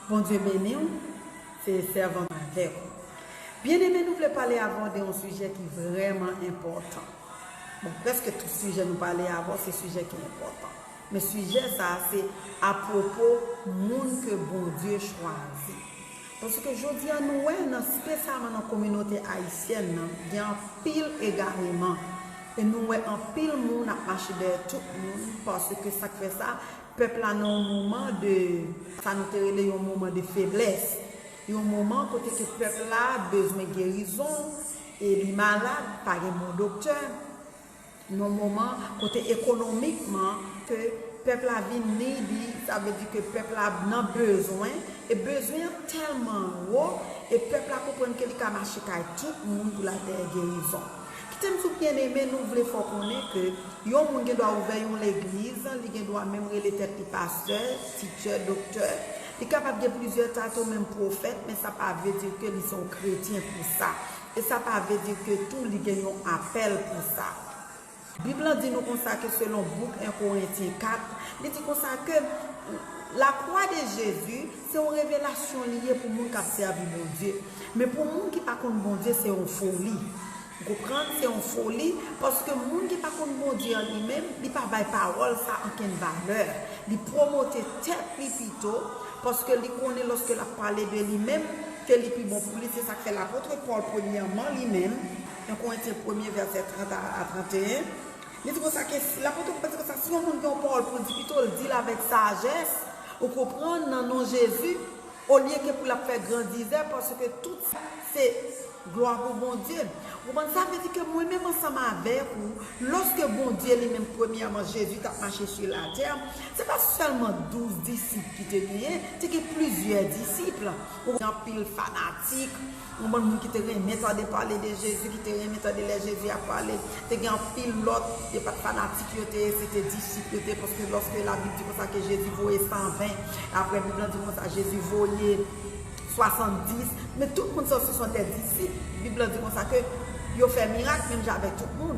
Bondye beniw se sèvant avèw. Byen eme nou vle pale avèw de yon sijè ki vrèman enpòtan bon prèske tout sijè nou pale avèw se sijè ki enpòtan men sijè sa se apwopo moun ke Bondye chwazi paske jodia nou wè nan spesyalman nan kominote ayisyèn nan gen anpil egareman e nou wè anpil moun ap mache dèyè tout moun paske sak fè sa Pèp la nan yon moman de, sa nou te rele yon moman de feblès. Yon moman kote ke pèp la bezwen gerizon, e li malad, pa gen bon doktè. Yon moman kote ekonomikman ke pèp la vin needy, sa vle di ke pèp la nan bezwen, e bezwen an tèlman wo, e pèp la konprann ke li ka mache kay tout moun pou l al peye gerizon. Kitem sou pye nene nou vle fè w konnen ke yon moun gen dwa ouvè yon legliz, li gen dwa menm rele tèt li pastè, titè, doktè, li kapab gen plizyè tato menm pwofèt men sa pa vle di ke li se yon kretyen pou sa e sa pa vle di ke tou li gen yon apèl pou sa. Bib lan di nou konsa ke selon bouk 1 Korentyen 4, li di konsa ke la kwa de Jezi Se yon revelasyon li ye pou moun k ap sèvi Bondye. Men pou moun ki pa konn Bondye se yon foli. Ou konprann? Se yon foli, paske moun ki pa konn Bondye an li menm, li pa bay pawòl sa a ankenn valè. Li pwomote tèt li pito, paske li konnen lòske l ap pale de li menm, ke li pi bon pou li. Se sa k fè lapotre Pòl, premyèman, li menm, 1 Korentyen premye vèsè 30 a 31, Li di konsa ke si, lapote Pòl di konsa, si yon moun gen yon pawòl pou l di, pito l di l avèk sajès, ou konprann, nan non Jezi, olye ke pou l ap fè grandizè, paske tout sa se glwa pou Bondye. Ou konprann? Sa vle di ke mwen menm ansanm avèk ou, lòske Bondye li menm premyèman, Jezi t ap mache su latè, se pa sèlman douz disip ki te genyen, te gen plizyè disip. Ou konprann? Anpil fanatik. Yon bann moun ki te renmen tande pale de Jezi, ki te renmen tande lè Jezi ap pale. Te gen anpil lòt, yo pa t fanatik, yo te, se te disip yo te, paske lòske Labib di konsa ke Jezi voye sanven, apre Bib lan di konsa Jezi voye swasanndis, men tout moun sa yo se sòn dè disip. Bib lan di konsa ke yo fè mirak menm jan avèk tout moun.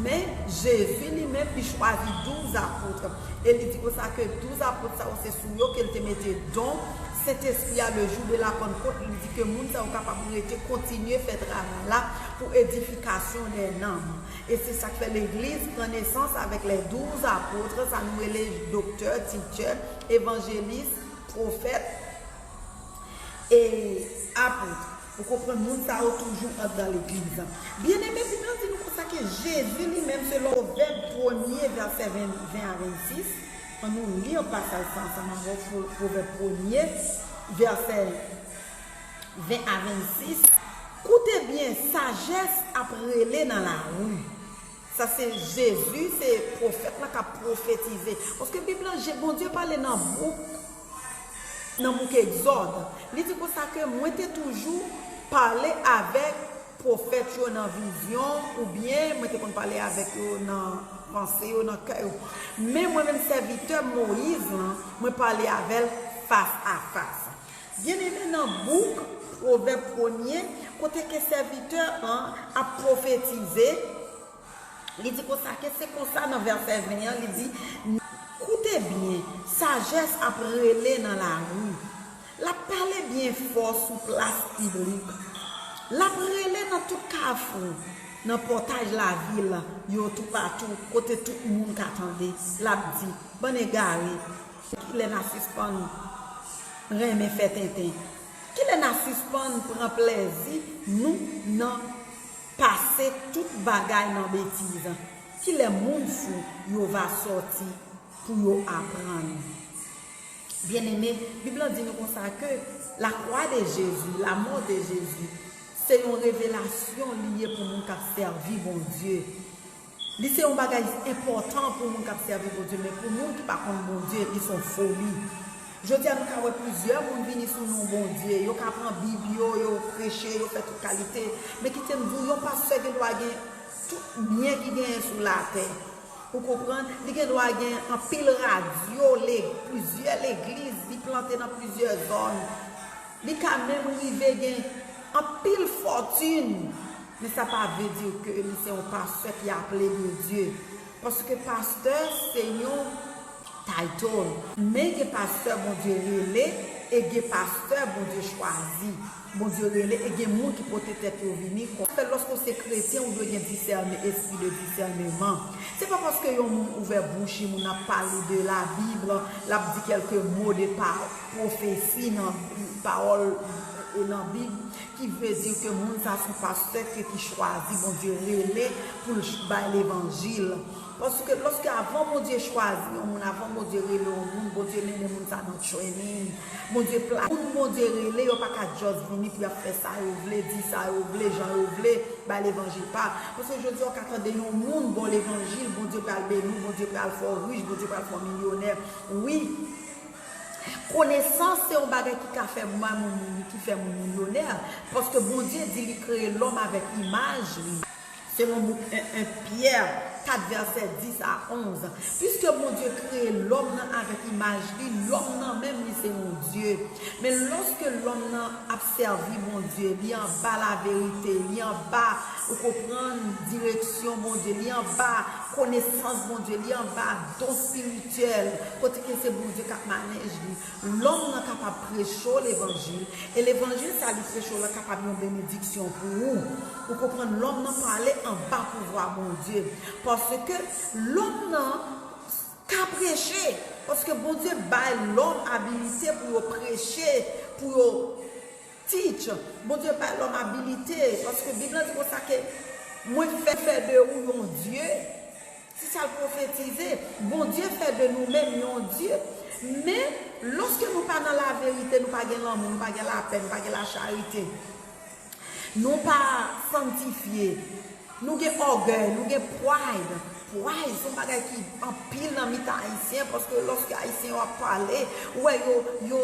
Men, Jezi li menm, li chwazi douz apotre. E li di konsa ke douz apotre sa yo se sou yo ke li te mete don. Sentespri a le jou de la Pannkot li di ke moun sa yo kapab rete kontinye fè travay la pou edifikasyon dè nanm. E se sak fè legliz pran nesans avèk lè douz apotre sa nou rele doktè, tichè, evanjelis, pwofèt e apotre. Ou konprann moun sa yo toujou andan legliz la. Byeneme bib la di nou konsa ke Jezi li menm selon Pwovèb premye vèsè 20 a 26. An nou li pasaj sa ansanm avè w sou Pwovèb premye, vèsè 20 a 26. Koute byen, sajès ap rele nan lari. Sa se Jezi, se pwofèt lan k ap pwofetize. Paske Bib lan, Bondye pale nan bouk. Nan bouk Egzòd, li di konsa ke mwen te toujou pale avèk pwofèt yo nan vizyon, oubyen mwen te konn pale avèk yo nan panse yo, nan kè yo. Men mwen menm sèvitè Moyiz lan, mwen pale avè l fas a fas. Byeneme, nan bouk Pwovèb premye, kote ke sèvitè an ap pwofetize, Li di konsa ke se konsa nan vèsè 20 an li di, Koute byen, sajès ap rele nan lari, l ap pale byen fò sou plas piblik, l ap rele nan tout kafou, nan pòtaj lavil yo toupatou kote tout moun ka tande, l ap di, Bann egare, se kilè n a sispann renmen fè tenten? Kilè na sispann pran plèzi nou nan pase tout bagay nan betiz? Kilè moun fou yo va sòti pou yo aprann? Byeneme, Bib lan di nou konsa ke lakwa de Jezi, lamò de Jezi, se yon revelasyon li ye pou moun k ap sèvi Bondye. Li se yon bagay ki enpòtan pou moun k ap sèvi Bondye, men pou moun ki pa konn Bondye, li se yon foli. Jodi a, nou ka wè plizyè moun vini sou non Bondye, yo ka pran Bib yo, yo preche, yo fè tout kalite. Men kite m di w, yon pastè gendwa gen tout byen ki genyen sou latè. Ou konprann? Li gendwa gen anpil radyo, plizyè legliz, li plante nan plizyè zòn. Li ka menm rive gen anpil fòtin. Men sa pa vle di ke li se yon pastè ki aple de Dye. Paske pastè se yon title. Men gen pastè Bondye rele e gen pastè Bondye chwazi. Bondye rele e gen moun ki pote tèt yo vini kon. Sa fè lòske w se kretyen ou dwe gen disène, espri de disèneman. Se pa paske yon moun ouvè bouch li, moun nan ap pale de la Bible, l ap di kèlke mo de pa pwofesi nan pawòl e nan Bib Ki vle di ke moun sa son pastè ke ki chwazi Bondye rele pou l bay levanjil. Paske loske avan Bondye chwazi yon moun, avan Bondye rele yon moun, Bondye mennen moun sa nan training, Bondye plase. Moun Bondye rele yo pa ka just vini pou y ap fè sa yo vle, di sa yo vle, jan yo vle, bay levanjil pa. Paske jodi a ou ka tande yon moun ba w levanjil, Bondye pral beni w, Bondye pral fè w rich, Bondye pral fè w milyonè. Wi! Konesans se yon bagay ki ka fè moun mouri, ki fè moun milyonè, paske Bondye di li kreye lòm avèk imaj li, selon bouk 1 Pyè 4 vèsè 10 a 11. Piske Bondye kreye lòm nan avèk imaj li, lòm nan menm li se yon dye. Men lòske lòm nan ap. sèvi Bondye, li anba laverite, li anba, ou konprann, direksyon Bondye, li anba konesans Bondye, li anba don espirityèl, kote ke se Bondye kap manèj li, lòm nan kapab preche w levanjil, e levanjil sa li preche w lan kapab yon benediksyon pou ou, ou konprann, lòm nan pale anba pouvwa Bondye, paske lòm nan. Ka preche, paske Bondye bay lòm abilite pou yo preche, pou yo teach, Bondye bay lòm abilite, paske Bib lan di konsa ke Mwen fè fè de ou yon dye, se sa l pwofetize, Bondye fè de nou menm yon dye, men lòske nou pa nan laverite, nou pa gen lanmou, nou pa gen lapè, nou pa gen lacharite. Nou pa sanktifye. Nou gen ògèy, nou gen pride. Pride son bagay ki anpil nan mitan Ayisyen paske lòske Ayisyen yo ap pale, ou wè yo, yo,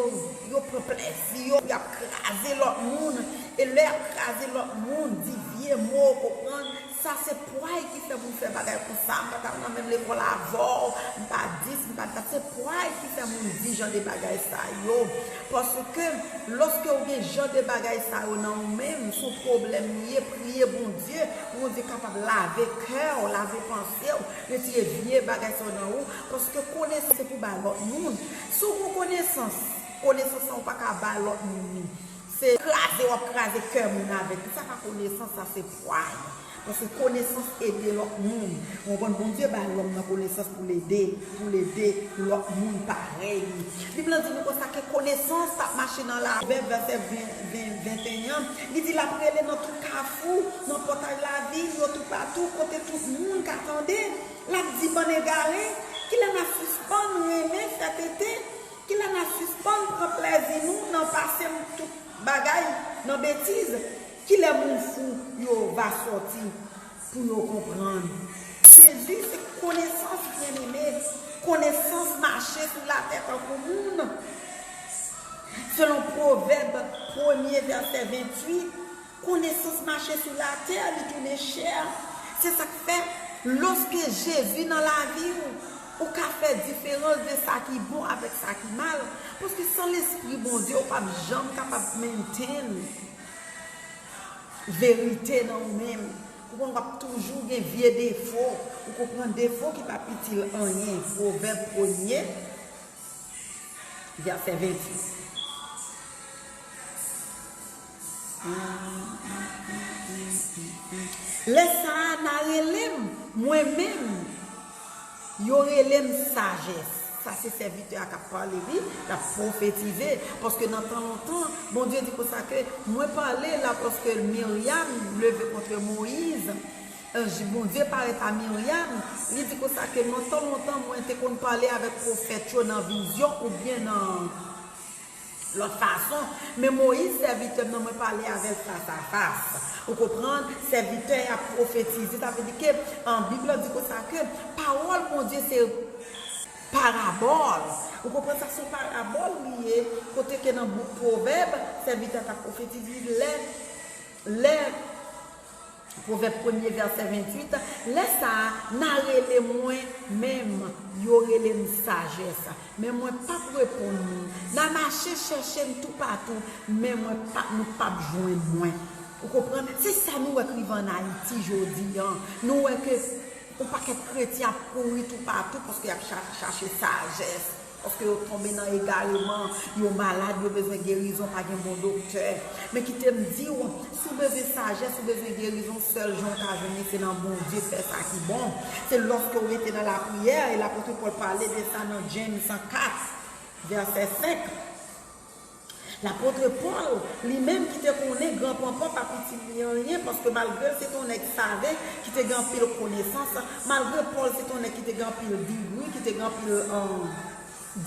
yo pran plèzi yo pou y ap kraze lòt moun. E lè y ap kraze lòt moun, di vye mo, ou konprann? Sa se pway ki fè moun fè bagay konsa, m pa t al nan menm lekòl avè w, m pa 10, m pa 4. Se pway ki fè moun di jan de bagay sa yo. Paske, lòske ou gen jan de bagay sa yo nan ou menm, s on pwoblèm li ye, priye Bondye pou Bondye kapab lave kè w, lave panse w, retire vye bagay sa yo nan ou. Paske konesans se pou bay lòt moun. Si w gon konesans, konesans lan ou pa ka bay lòt moun li. Se kraze wap kraze kè moun avèk li sa pa konesans sa se pwaz paske konesans ede lòt moun ou konprann Bondye bay lòm nan konesans pou l ede pou l ede lòt moun parèy li Bib lan di nou konsa ke konesans ap mache nan lavi Pwovèb vèsè 20 21 li di lap rele nan tout kafou nan pòtay lavi m yo toupatou kote tout moun ka tande lap di bann egare kilè na sispann renmen fè tete Kilè na sispann pran plèzi nou nan pase tout bagay nan betiz, kilè moun fou yo va sòti pou yo konprann. Jezi se konesans byeneme, konesans mache sou latè tankou moun, selon Pwovèb premye vèsè 28. Konesans mache sou latè, li tounen chè. Se sa k fè, lòske Jezi nan lavi w, ou ka fè diferans de sa ki bon avèk sa ki mal. Paske san lespri Bondye, ou pap janm kapab mentenn verite nan ou menm. Ou konn w ap toujou gen vye defo, ou konprann, defo ki pap itil anyen. Pwovèb premye, vèsè 26. Lè Saana rele m, mwen menm, yo rele m sajès. Sa se sèvitè a k ap pale wi, l ap pwofetize. Paske nan tan lontan, Bondye di konsa ke, Mwen pale la paske Miryam leve kontre Moyiz. Anj Bondye parèt a Miryam, li di konsa ke nan tan lontan mwen te konn pale avèk pwofèt yo nan vizyon oubyen nan. Lòt fason, Men Moyiz, sèvitè m nan, mwen pale avè l fasafas. Ou konprann? Sèvitè a pwofetize. Sa vle di ke Bib la di konsa ke pawòl Bondye se parabòl. Ou konprann sa? Se yon parabòl li ye, kote ke nan bouk Pwovèb, sèvitè a t ap pwofetize lè. Pwovèb premye vèsè 28, Lè sa a, n'a rele mwen menm, yo rele m' sajès, men mwen p'ap reponn nou, n'a mache chèche m' toupatou, men mwen p'ap nou p'ap jwenn mwen. Ou konprann? Se sa nou wè k' rive an Ayiti jodi a. Nou wè ke yon pakèt kretyen ap kouri toupatou paske y'ap chache sajès. Paske yo tonbe nan egareman, yo malad, yo bezwen gerizon, pa gen bon doktè. Men kite m di w, si w bezwen sajès, ou bezwen gerizon, sèl jan w ka jwenn li se nan Bondye, fè sa ki bon. Se lòske w rete nan lapriyè, e lapotre Pòl pale de sa nan James 4, vèsè 5. Lapotre Pòl, li menm ki te konnen Gran Panpan pa pitit li anyen, paske malgre l se te yon nèg save, ki te gen anpil konesans, malgre Pòl se te yon nèg ki te gen anpil digri, ki te gen anpil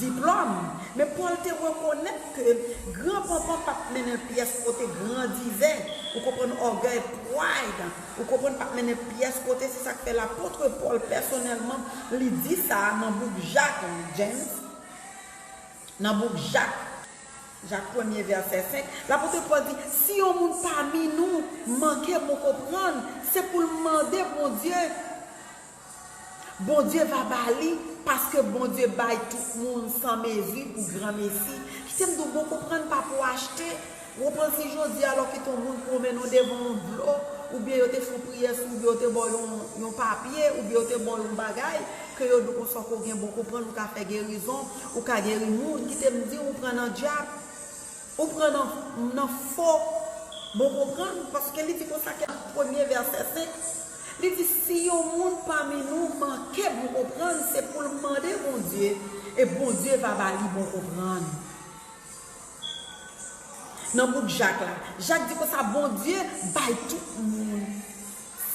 diplòm, men Pòl te rekonèt ke Gran Panpan pa t mennen l pyès kote, grandizè, ou konprann, ògèy, pride, ou konprann, pa t mennen l pyès kote, se sa k fè Lapotre Pòl pèsonèlman li di sa a nan bouk Jak, James. Nan bouk Jak, Jak premye vèsè 5, lapote Pòl di, Si yon moun pami nou manke bon konprann, se pou l mande Bondye, Bondye va ba li, paske Bondye bay tout moun san mezi pou granmesi. Kite m di w, bon konprann pa pou achte. Wou pran fi jodi a lò kite yon moun pwomennen w devan yon dlo, oubyen yo te fè yon priyè sou ou, byen yo te ba w yon yon papye, oubyen yo te ba w yon bagay, ke yo di w konsa w ko gen bon konprann, ou ka fè gerizon, ou ka geri moun, kite m di w, ou pran nan dyab, ou pran nan nan fo bon konprann, paske li di konsa ke premye vèsè sen, li di si yon moun pami nou manke bon konprann, se pou l mande Bondye, e Bondye va ba li bon konprann. Nan bouk Jak la, Jak di konsa, Bondye bay tout moun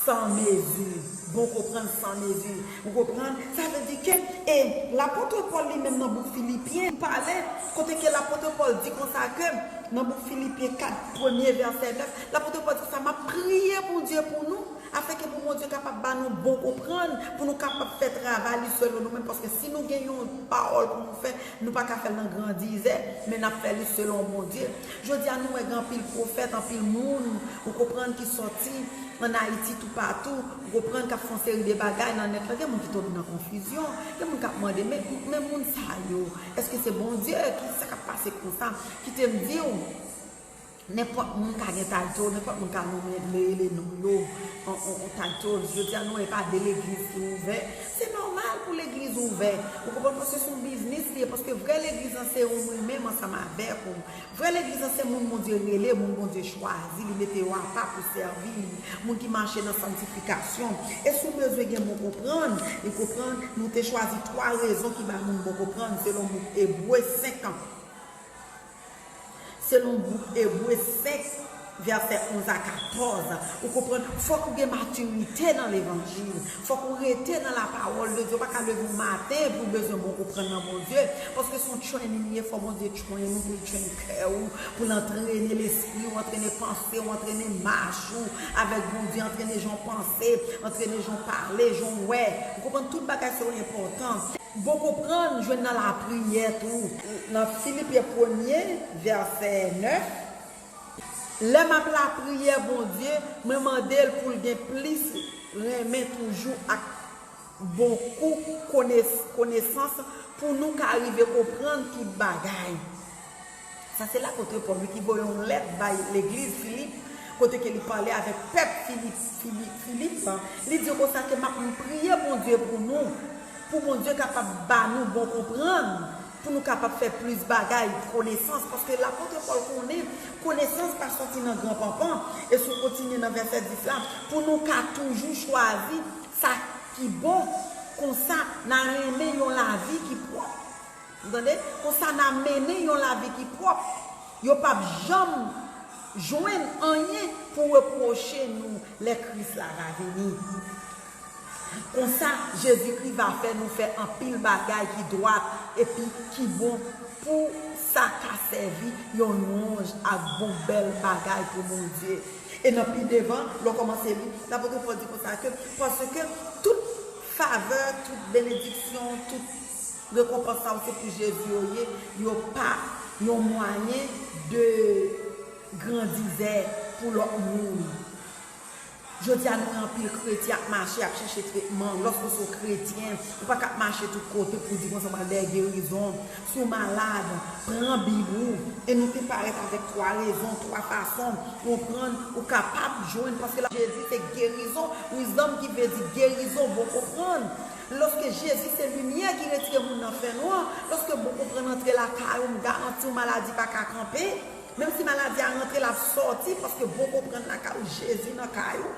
san mezi, bon konprann san mezi. Ou konprann? Sa vle di ke, e Lapòtre Pòl li menm nan bouk Filipyen, li pale, kote ke Lapòtre Pòl di konsa ke, nan bouk Filipyen 4, premye vèsè 9, Lapòtre Pòl di konsa, M ap priye Bondye pou nou, Afin ke pou Bondye kapab ba nou bon konprann, pou nou kapab fè travay li selon nou menm, paske si nou gen yon pawòl pou nou fè, nou pa ka fè l nan grandizè, men n ap fè li selon Bondye. Jodi a nou wè gen anpil pwofèt, anpil moun, ou konprann, ki sòti an Ayiti toupatou, ou konprann, k ap fè yon seri de bagay nan nèt la. Gen moun ki tonbe nan konfizyon, gen moun k ap mande, men, men moun sa yo, èske se Bondye? Ki sa k ap pase konsa? Kite m di ou. Nenpòt moun ka gen title, nenpòt moun ka nonmen le rele non yo on title. Jodi a nou wè e pa de legliz ki ouvè. Se nòmal pou legliz ouvè. Ou konprann paske son biznis li ye. Paske vrè legliz lan se ou mwen menm ansanm avèk ou. Vrè legliz lan se moun Bondye rele, moun Bondye chwazi, li mete yo apa pou sèvi li. Moun ki mache nan santifikasyon. E si w bezwen gen bon konprann, ou konprann, nou te chwazi 3 rezon ki bay moun bon konprann selon bouk Ebre 5 an. Selon gwoup Ebre, sèks, vèsè 11 a 14, ou konprann, fòk ou gen matirite nan levanjil, fòk ou rete nan lapawòl de Dye, ou pa ka leve yon maten epi ou bezwen bon konprann nan Bondye, paske se yon training li ye, fò Bondye train ou pou l train kè ou, pou l antrene lespri ou, antrene panse ou, antrene mach ou avèk Bondye, antrene jan w panse, antrene jan w pale, jan w wè, ou konprann, tout bagay sa yo enpòtan. Bon konprann jwenn nan lapriyè tou. Nan Filipen premye, vèsè 9, Lè m ap lapriyè Bondye, mwen mande l pou l gen plis renmen toujou ak bon kou konesans pou nou ka rive konprann tout bagay. Sa se lapotre Pòl wi ki voye yon lèt bay legliz Filip kote ke li pale avèk pèp Filip lan, li di yo konsa ke map priye Bondye pou nou, pou Bondye kapab ba nou bon konprann pou nou kapab fè plis bagay, konesans, paske lapotre Pòl konnen konesans pa sòti nan gran panpan, e si w kontinye nan vèsè 10 la, pou nou ka toujou chwazi sa ki bon, konsa na renmen yon lavi ki pwòp. Ou tande? Konsa na mennen yon lavi ki pwòp. Yo p ap janm jwenn anyen pou repwoche nou lè Kris la va vini. Konsa, Jezikri va fè nou fè anpil bagay ki dwat epi ki bon pou sa ka sèvi yon lwanj ak bon bèl bagay pou Bondye. E nan pi devan, lè w kòmanse li, lapotri Pòl di konsa ke, Paske tout favè, tout benediksyon, tout. Rekonpans sa ou se pou Jezi yo ye, yo pa Yon mwayen de grandizè pou lòt moun. Jodi a nou wè anpil kretyen ap mache ap chèche tretman, lòske w se yon kretyen ou pa ka ap mache tout kote pou w di konsa w pral dèyè gerizon, si w malad pran bib ou e nou te parèt avèk 3 rezon, 3 fason, konprann, ou kapab jwenn paske la. Jezi se gerizon, wisdom ki vle di gerizon bon konprann. Lòske Jezi se limyè ki retire moun nan fènwa, lòske bon konprann antre lakay ou m garanti w maladi pa ka kanpe, menm si maladi a rantre l ap sòti paske bon konprann lakay ou Jezi nan kay ou.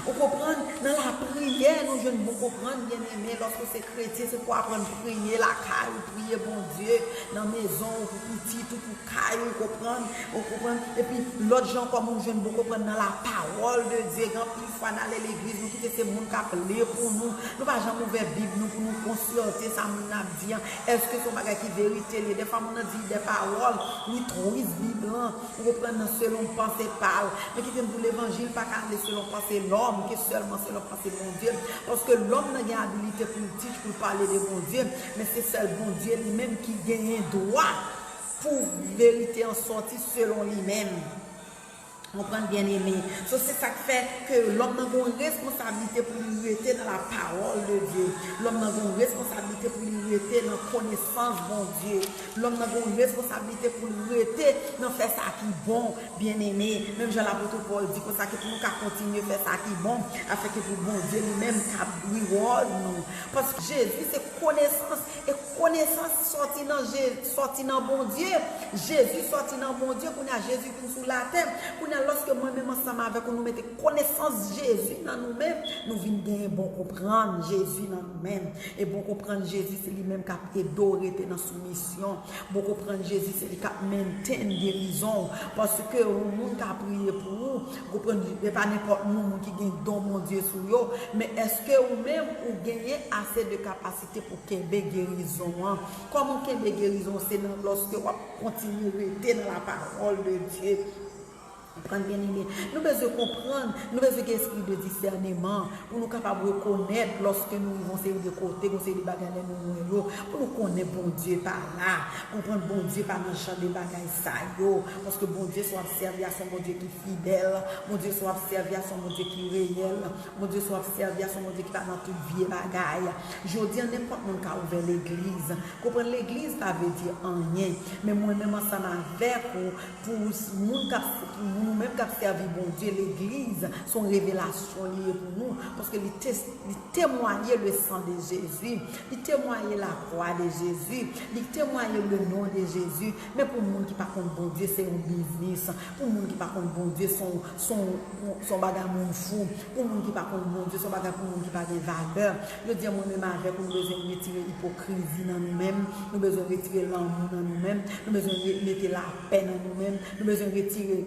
Ou konprann, nan lapriyè nou jwenn bon konprann byeneme, lòske w se kretyen se pou w aprann priye lakay ou, priye Bondye nan mezon ou pou pitit ou, pou kay ou konprann, ou konprann, epi lòt jan ankò moun jwenn bon konprann nan lapawòl de Dye gen anpil. fwa nale legliz nou kite se moun kap li pou nou, nou pa janm ouvè bib nou pou nou konsyante sa moun nan ap di an, eske son bagay ki verite liye, defwa moun nan di de pawòl, li twist bib lan, ou konprann nan selon panse pal, men kitem diw levanjil pa ka ale selon panse lòm, ke sèlman selon panse Bondye, paske lòm nan gen abilite poul teach poul pale de Bondye, men se sèl Bondye li menm ki genyen dwa pou verite an sòti selon li menm. Konprann byen eme. So se sak fè ke lòm nan gen yon responsablite pou li rete nan la pawòl de Dye. Lòm nan gen yon responsablite pou li rete nan konesans Bondye. Lòm nan gen yon responsablite pou l rete nan fè sa ki bon, byen eme. Menm jan lapotre Pòl di konsa ke pou nou ka kontinye fè sa ki bon, afè ke pou Bondye li menm ka reward nou. Paske Jezi se konesans, e konesans sòti nan Jezi, sòti nan Bondye. Jezi sòti nan Bondye, kounye a Jezi pou sou latè, kounya lòske mwen menm ansanm avèk ou nou mete konesans Jezi nan nou menm, nou vin genyen bon konprann Jezi nan nou menm, e bon konprann Jezi se li menm kap ede w rete nan soumisyon, bon konprann Jezi se li kap mentenn gerizon w, paske yon moun ka priye pou ou, konprann, se pa nenpòt moun, moun ki gen don Bondye sou yo, men èske ou menm ou genyen ase de kapasite pou kenbe gerizon an, kòman w kenbe gerizon w se nan lòske wap. Kontinye rete nan la parole de Dieu. Konprann byen eme. Nou bezwen konprann, nou bezwen gen espri de disèneman pou nou kapab rekonèt lòske nou rive yon seri de kote, gen yon seri de bagay lè nou lwen yo, pou nou konnen Bondye pa la. Konprann Bondye pa nan jan de bagay sa yo. Paske Bondye sa w ap sèvi a se yon Bondye ki fidèl. Bondye sa w ap sèvi a se yon Bondye ki reyèl. Bondye sa w ap sèvi a se yon Bondye ki pa nan tout vye bagay. Jodi an nenpòt moun ka ouvè legliz. Konprann legliz pa vle di anyen men mwen menm ansanm avèk ou pou moun kap pou nou menm kap sèvi Bondye legliz son revelasyon li ye pou nou paske li li temwaye le san de Jezi li temwaye la kwa de Jezi li temwaye le non de Jezi men pou moun ki pa konn Bondye se yon biznis pou moun ki pa konn Bondye son son son bagay moun fou pou moun ki pa konn Bondye son bagay pou moun ki pa gen valè. Jodi an mwen menm avèk ou nou bezwen retire ipokrizi nan nou menm, nou bezwen retire lanmou nan nou menm, nou bezwen mete lapè nan nou menm, nou bezwen retire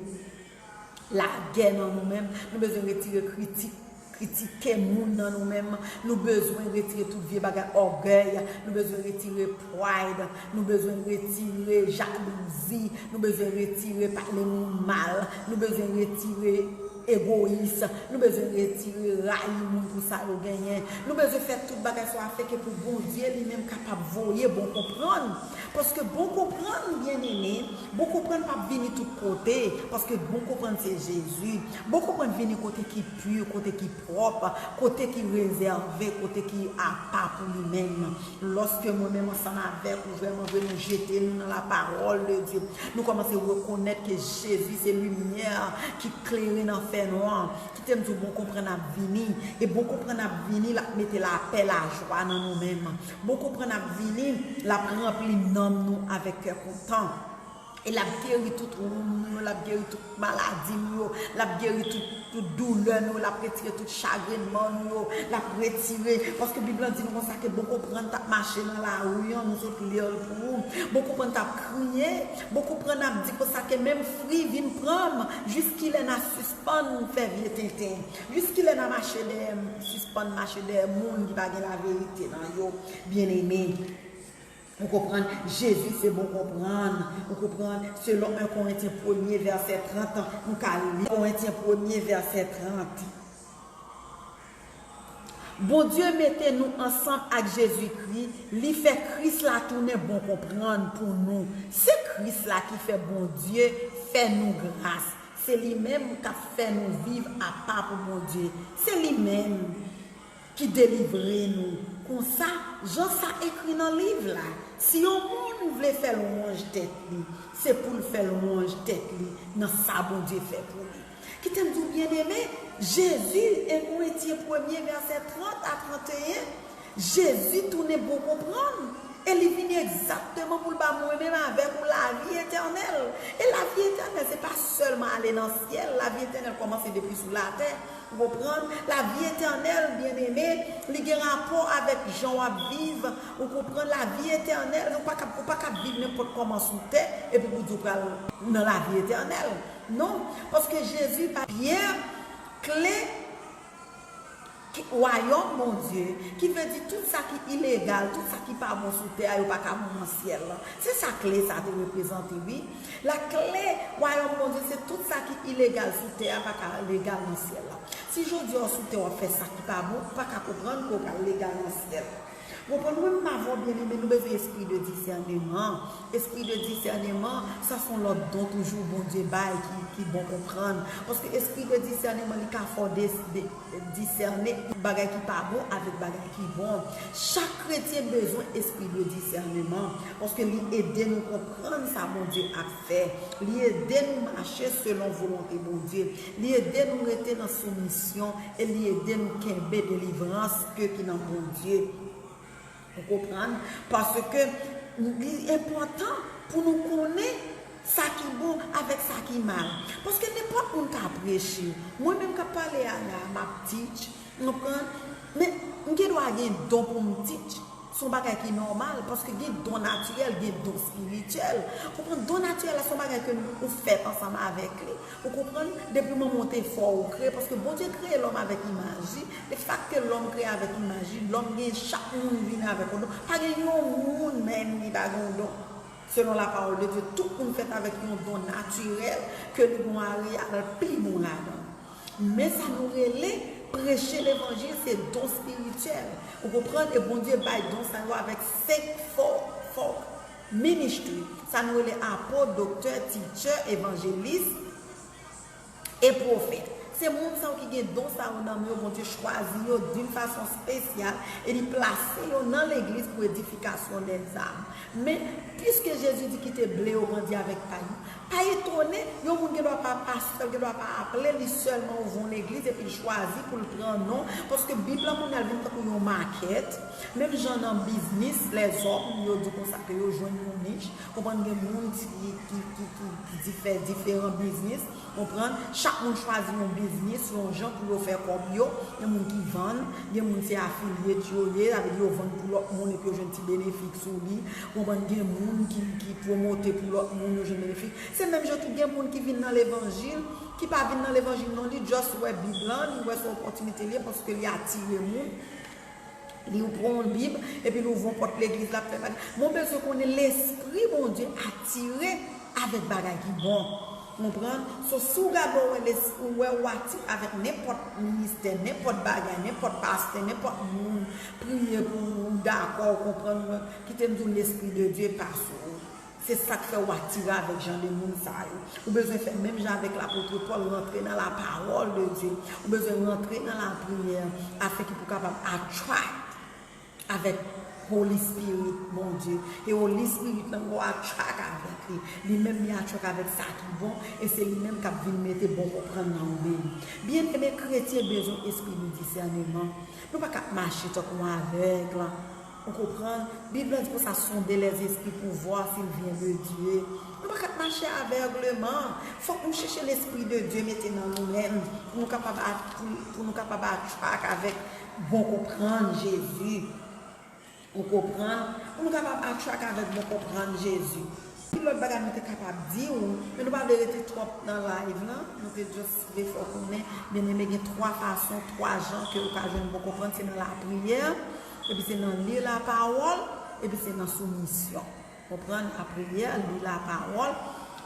lagè nan nou menm, nou bezwen retire kritik, kritike moun nan nou menm, nou bezwen retire tout vye bagay ògèy, nou bezwen retire pride, nou bezwen retire jalouzi, nou bezwen retire pale moun mal, nou bezwen retire. Egoyis. Nou bezwen retire, rayi moun pou sa yo genyen. Nou bezwen fè tout bagay sa yo afenke pou Bondye li menm kapab voye bon konprann. Paske bon konprann, byeneme, bon konprann pa p vini tout kote. Paske bon konprann se Jezi. Bon konprann vini kote ki pu, kote ki pwòp, kote ki rezève, kote ki apa pou li menm. Lòske mwen menm ansanm avèk ou. Vrèman vre nou jete nou nan la paròl de Dye. Nou kòmanse rekonèt ke Jezi se limyè ki klere nan fè nwa. Kite m di w bon konprann ap vini. E bon konprann ap vini, l ap mete lapè, lajwa nan nou menm. Bon konprann ap vini, l ap ranpli nanm nou avèk kè kontan. E l ap geri tout woun nou yo, l ap geri tout maladi nou yo, l ap geri tout doulè nou yo, l ap retire tout chagrenman nou yo, l ap retire, paske Bib lan di nou konsa ke bon konprann t ap mache nan lari an, nou sot li l pou ou, bon konprann t ap kriye, bon konprann ap di konsa ke menm fri vin pran m, jiskilè n a sispann fè vye tenten, jiskilè n a mache dèyè, sispann mache dèyè moun ki pa gen laverite nan yo, byeneme. Ou konprann? Jezi se bon konprann. Ou konprann? Selon 1 Korentyen premye vèsè 30, nou ka li. Korentyen premye vèsè 30. Bondye mete nou ansanm ak Jezikri, li fè Kris la tounen bon konprann pou nou. Se Kris la ki fè Bondye fè nou gras. Se li menm k ap fè nou viv apa pou Bondye. Se li menm. Ki delivre nou. Konsa, jan sa ekri nan Liv la, si yon moun vle fè lwanj tèt li, se pou l fè lwanj tèt li nan sa Bondye fè pou li. Kite m di w byenneme, Jezi, 1 Korentyen premye vèsè 30 a 31, Jezi tounen bon konprann, e li vini egzakteman pou l ba mwen menm avèk ou lavi etènèl. E lavi etènèl se pa sèlman ale nan syèl, lavi etènèl kòmanse depi sou latè. Ou konprann? Lavi etènèl, byeneme, li gen rapò avèk jan w ap viv, ou konprann? Lavi etènèl, nou pa kab, ou pa kab viv nenpòt kòman sou tè, epi pou w di ou pral nan lavi etènèl. Non, paske Jezi bay Pyè kle Wayòm Bondye, ki vle di tout sa ki ilegal, tout sa ki pa bon sou tè a, yo pa ka bon nan syèl la. Se sa kle sa a te reprezante, wi. Lakle wayòm Bondye se tout sa ki ilegal sou tè a pa ka legal nan syèl la. Si jodi a w sou tè w ap fè sa ki pa bon, ou pa ka konprann ke w pral legal nan syèl. Ou konprann? Wi m pa vwa w byen men nou bezwen espri de disèneman. Espri de disèneman sa son lòt don toujou Bondye bay ki bon konprann. Paske espri de disèneman li ka fè w disène bagay ki pa bon avèk bagay ki bon. Chak kretyen bezwen espri de disèneman paske li ede nou konprann. Konprann sa Bondye ap fè. Li ede nou mache selon volonte Bondye. Li ede nou rete nan soumisyon e li ede nou kenbe delivrans ke ki nan Bondye. Ou konprann? Paske li enpòtan pou nou konnen sa ki bon avèk sa ki mal. Paske nenpòt moun ka preche. Mwen menm kap pale a la, map teach, Konprann? Men, m gen dwa gen don pou m teach. Se yon bagay ki nòmal, paske gen don natirèl, gen don espirityèl. Konprann? Don natirèl la se yon bagay ke ou fèt ansanm avèk li. Ou konprann? Depi manman w te fè w, ou kreye, paske Bondye kreye lòm avèk imaj li. E fak ke lòm kreye avèk imaj li, lòm gen, chak moun vini avèk yon don. Pa gen yon moun menm ki pa gen yon don. Selon lapawòl de Dye, tout moun fèt avèk yon don natirèl, ke li gon a li a, l pi bon ladan l. Men sa nou rele preche levanjil se don spirityèl ou konprann e Bondye bay don sa yo avèk 5 fò fò ministry sa nou rele apot doktè teacher evanjelis e pwofèt se moun sa yo ki gen don sa yo nan men yo Bondye chwazi yo dun fason spesyal e li plase yo nan legliz pou edifikasyon lèzanm men piske Jezi di kite ble yo grandi avèk pay yo. Pa etone, yon moun gen dwa pa pastè, gen dwa pa aple li sèlman ouvri yon legliz epi l chwazi pou l pran non, paske Bib la kounye a l vin tankou yon makèt, menm jan nan biznis lèzòm yo di konsa ke yo jwenn yon nich, konprann gen moun ki fè diferan biznis, konprann, chak moun chwazi yon biznis yon jan pou yo fè kòb yo, gen moun ki vann, gen moun se afilyet yo ye, sa vle di yo vann pou lòt moun epi yo jwenn ti benefik sou li, Ou konprann gen moun ki promote pou lòt moun yo jwenn benefi. Se menm jan tou gen moun ki vin nan levanjil, ki pa vin nan levanjil non li just wè bib lan, li wè son opòtinite li ye paske li atire moun, li ou pran yon bib epi li ouvri yon pòt legliz lap fè bagay. Mwen bezwen konnen lespri Bondye atire avèk bagay ki bon. Konprann? So si w gade w wè les ou wè ou aktif avèk nenpòt ministè, nenpòt bagay, nenpòt pastè, nenpòt moun priye pou ou, ou dakò, ou konprann mwen, kite m di w lespri de Dye pa sou ou. Se sa k fè ou atire avèk jan de moun sa yo. Ou bezwen fè menm jan avèk lapotre Pòl, rantre nan lapawòl de Dye. Ou bezwen rantre nan lapriyè afenke pou w kapab attract. Avèk Holy Spirit Bondye, e Holy Spirit lan gwo atchak avèk li. Li menm li atchak avèk sa ki bon, e se li menm k'ap vin mete bon konprann nan ou menm. Byeneme, kretyen bezwen espri de disèneman. Nou pa ka ap mache tankou yon avèg lan. Ou konprann? Bib lan di konsa, sonde les esprits pou vwa s'il vient de Dieu. Nou pa ka ap mache avègleman. Fòk nou chèche lespri de Dye mete nan nou menm, pou nou kapab atchak avèk. Bon konprann Jezi. Ou konprann? Pou nou kapab attract avèk bon konprann Jezi. Pil lòt bagay nou te kapab di ou, men nou pa vle rete twòp nan live lan, nou te just vle fè w konnen, byeneme gen 3 fason, 3 jan ke ou ka jwenn bon konprann, se nan lapriyè, epi se nan li lapawòl, epi se nan soumisyon. Konprann lapriyè, li lapawòl,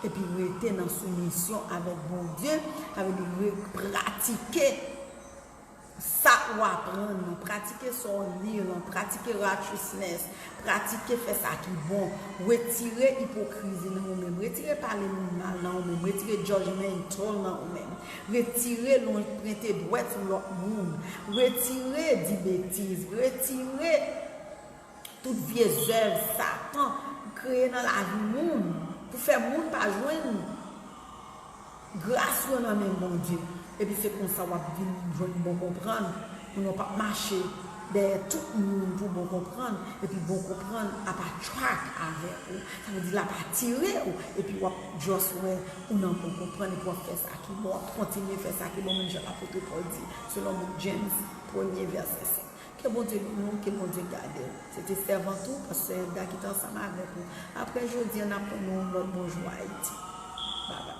epi rete nan soumisyon avèk Bondye, sa vle di re, pratike Sa ou aprann nan, pratike sa ou li lan, pratike righteousness, pratike fè sa ki bon, retire ipokrizi nan ou menm, retire pale moun mal nan ou menm, retire judgemental nan ou menm, retire pwente dwèt sou lòt moun, retire di betiz, retire. Tout vye zèv satan pou kreye nan lavi moun pou fè moun pa jwenn gras yo nan men Bondye epi se konsa wap vin jwenn bon konprann pou nou pap mache dèyè tout moun pou bon konprann epi bon konprann ap attract avèk ou sa vle di lap atire ou epi wap just wè ou nan bon konprann epi wap fè sa ki bon wap kontinye fè sa ki bon menm jan apôtre Paul di selon book James premye vèsè 7. Ke Bondye beni w, ke Bondye gade w. Se te sèvant ou, pastè Edda ki te ansanm avèk ou. Aprè jodi an, n ap tann yon lòt Bonjou Ayiti. Bye bye.